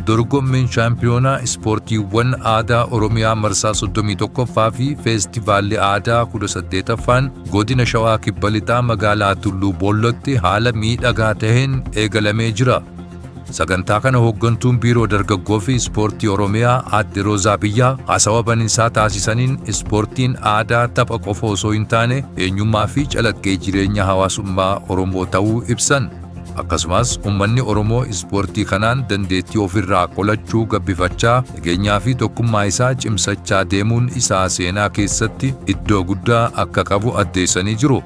Dorgommiin shaampiyoonaa ispoortiiwwan aadaa Oromiyaa marsaa 31ffaa fi feestivaalli aadaa 18ffaan godina Shawaa Kibba Lixaa magaalaa Tulluu Boollootti haala miidhagaa taheen eegalamee jira. Sagantaa kana Hooggantuun Biiroo Dargaggoo fi Ispoortii Oromiyaa Aadde Roozaa Biyyaa haasawa baninsaa taasisaniin ispoortiin aadaa tapha qofa osoo hin taane eenyummaa fi calaqqee jireenya hawaasummaa Oromoo ta'uu ibsan. Akkasumas ummanni Oromoo ispoortii kanaan dandeettii ofirraa qolachuu gabbifachaa nageenyaa fi tokkummaa isaa cimsachaa deemuun isaa seenaa keessatti iddoo guddaa akka qabu addeessanii jiru.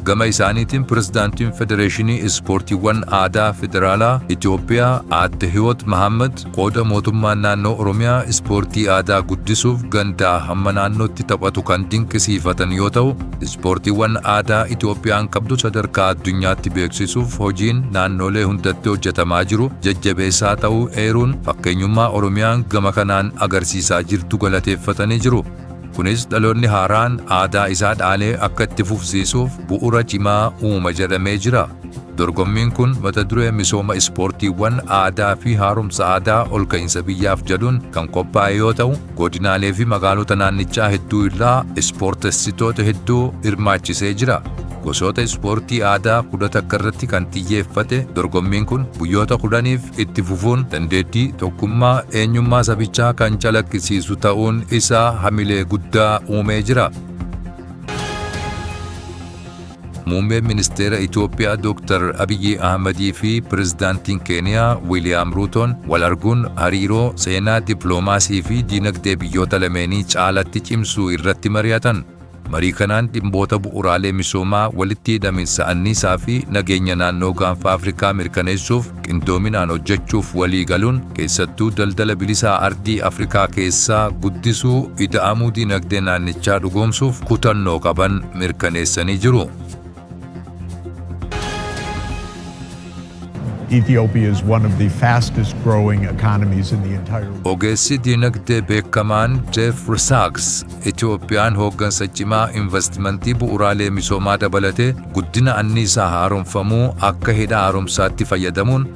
Gama isaaniitiin Pirezidaantiin Federeeshinii Ispoortiiwwan Aadaa Federaalaa Itoophiyaa Aadde Hiwoot Mahaammad qooda mootummaan naannoo Oromiyaa ispoortii aadaa guddisuuf gandaa hamma naannootti taphatu kan dinqisiifatan yoo ta'u, ispoortiiwwan aadaa Itoophiyaan qabdu sadarkaa addunyaatti beeksisuuf hojiin naannoolee hundatti hojjetamaa jiru jajjabeessaa ta'uu eeruun, fakkeenyummaa Oromiyaan gama kanaan agarsiisaa jirtu galateeffatanii jiru. Kunis dhaloonni haaraan aadaa isaa dhaalee akka itti fufsiisuuf bu'ura cimaa uuma jedhamee jira. Dorgommiin kun mata duree misooma ispoortiiwwan aadaa fi haaromsa aadaa ol ka'iinsa biyyaaf jedhuun kan qophaa'e yoo ta'u, godinaalee fi magaalota naannichaa hedduu irraa ispoortessitoota hedduu hirmaachisee jira. Gosoota ispoortii aadaa 11 irratti kan xiyyeeffate dorgommiin kun guyyoota 10f itti fufuun dandeettii, tokkummaa, eenyummaa sabichaa kan calaqqisiisu ta'uun isaa hamilee guddaa uumee jira. Muummeen Ministeera Itoophiyaa Dooktar Abiyyi Ahmadii fi Pirezidaantiin Keeniyaa Wiiliyaam Ruutoon wal arguun hariiroo seenaa dippiloomaasii fi diinagdee biyyoota lameenii caalatti cimsuu irratti mari'atan. Marii kanaan dhimmoota bu'uuraalee misoomaa, walitti hidhaminsa anniisaa fi nageenya naannoo Gaanfa Afrikaa mirkaneessuuf qindoominaan hojjechuuf walii galuun, keessattuu daldala bilisaa ardii Afrikaa keessaa guddisuu, ida'amuu dinagdee naannichaa dhugoomsuuf kutannoo qaban mirkaneessanii jiru. Ethiopia is one of the fastest growing economies in the entire world. Ogeessi diinagdee beekamaan Jeef Risaaks Itoophiyaan hooggansa cimaa investimentii bu'uuraalee misoomaa dabalatee guddina anniisaa haaromfamuu akka hidha haaromsaatti fayyadamuun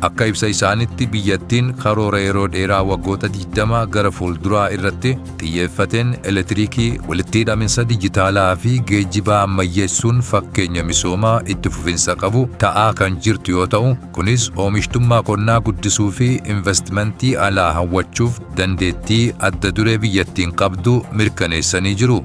Akka ibsa isaanitti biyyattiin karoora yeroo dheeraa waggoota 20 gara fuulduraa irratti xiyyeeffateen elektiriikii, walitti hidhaminsa dijitaalaa fi geejjibaa ammayyeessuun fakkeenya misoomaa itti fufinsa qabu ta'aa kan jirtu yoo ta'u, kunis oomishtummaa qonnaa guddisuu fi invastimantii alaa hawwachuuf dandeettii adda duree biyyattiin qabdu mirkaneessanii jiru.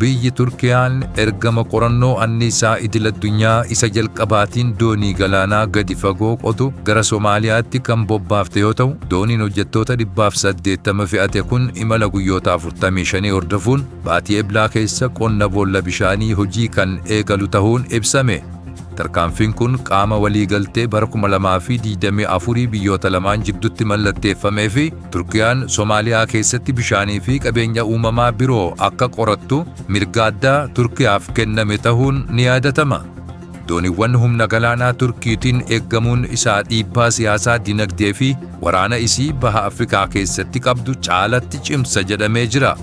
Biyyi Turkiyaan ergama qorannoo anniisaa idil-addunyaa isa jalqabaatiin doonii galaanaa gadi fagoo qotu gara Somaaliyaatti kan bobbaafte yoo ta'u, dooniin hojjettoota 180 fe'ate kun imala guyyoota 45 hordofuun baatii Eblaa keessa qonna boolla bishaanii hojii kan eegalu tahuun ibsame. Tarkaanfiin kun qaama waliigaltee bara 2024 biyyoota lamaan jiddutti mallatteeffamee fi Turkiyaan Somaaliyaa keessatti bishaanii fi qabeenya uumamaa biroo akka qorattu mirga addaa Turkiyaaf kenname tahuun ni yaadatama. Dooniwwan humna galaanaa Turkiitiin eeggamuun isaa dhiibbaa siyaasaa, dinagdee fi waraana isii Baha Afrikaa keessatti qabdu caalatti cimsa jedhamee jira.